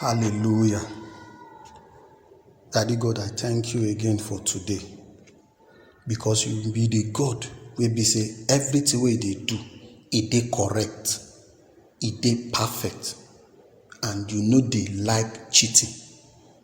Hallelujah. Daddy God, I thank you again for today because you be the God wey be say everything wey you dey do, e dey correct, e dey perfect and you no dey like cheating.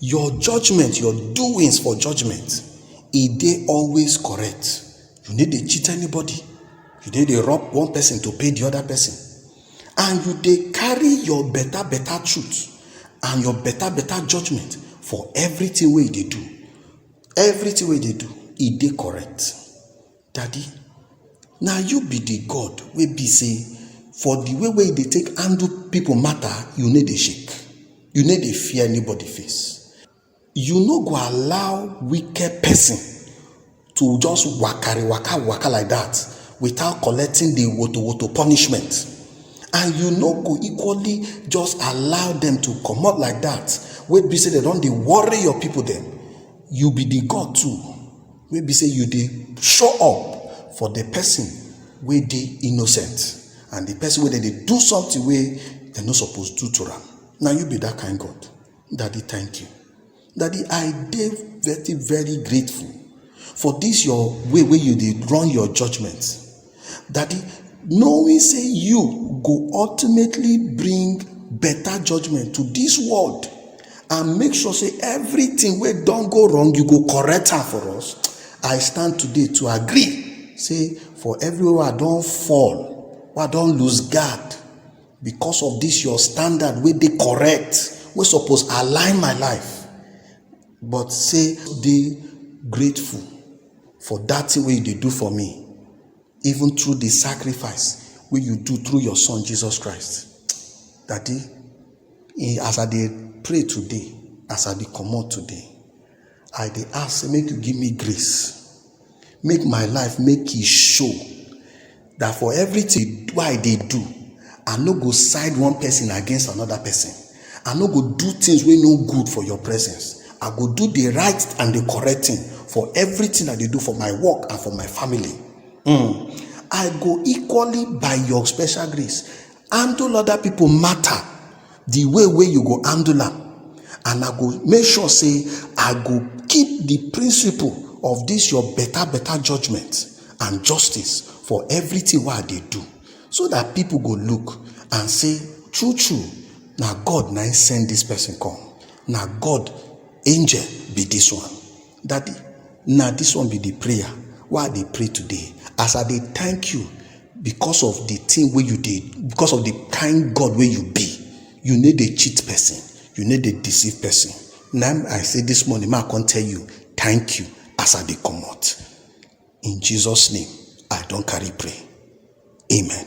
Your judgement, your doings for judgement e dey always correct. You no dey cheat anybody, you no dey rob one person to pay the other person and you dey carry your better better truth and your better better judgement for everything wey you dey do. Everything wey you dey do e dey correct. Daddy na you be the God wey be say for the way wey you dey take handle people matter, you no dey shake. You no dey fear anybody face. You no go allow wicked person to just wakari waka waka like that without collecting the woto woto punishment. And you no go equally just allow them to comot like that wey be say dem don dey worry your people dem. You be the God too. wey be say you dey show up for the person wey dey innocent and the person wey dem dey do something wey dem no suppose do to am na you be that kind god daddy thank you daddy i dey very very grateful for this your way wey you dey run your judgement Daddy, knowing say you go ultimately bring better judgment to this world and make sure say everything wey don go wrong you go correct am for us i stand today to agree say for everywhere i don fall i don lose guard because of this your standard wey dey correct wey suppose align my life but say dey grateful for dat thing wey you dey do for me even through the sacrifice wey you do through your son Jesus Christ daddy as I dey pray today as I dey comot today I dey ask make you give me grace make my life make e show that for everything wey I dey do, I no go side one person against another person. I no go do things wey no good for your presence. I go do the right and the correct thing for everything I dey do for my work and for my family. Mm. I go equally by your special grace handle other people matter the way wey you go handle am and i go make sure say i go keep the principle of this your better better judgment and justice for everything wey i dey do so that people go look and say true true na god na him send this person come na god angel be this one Daddy, na this one be the prayer wey I dey pray today. As I dey thank you because of the thing wey you dey, because of the kind God wey you be. You no dey cheat person, you no dey deceive person. Na im I say this morning make I come tell you thank you as I dey comot. In Jesus name, I don carry pray. Amen.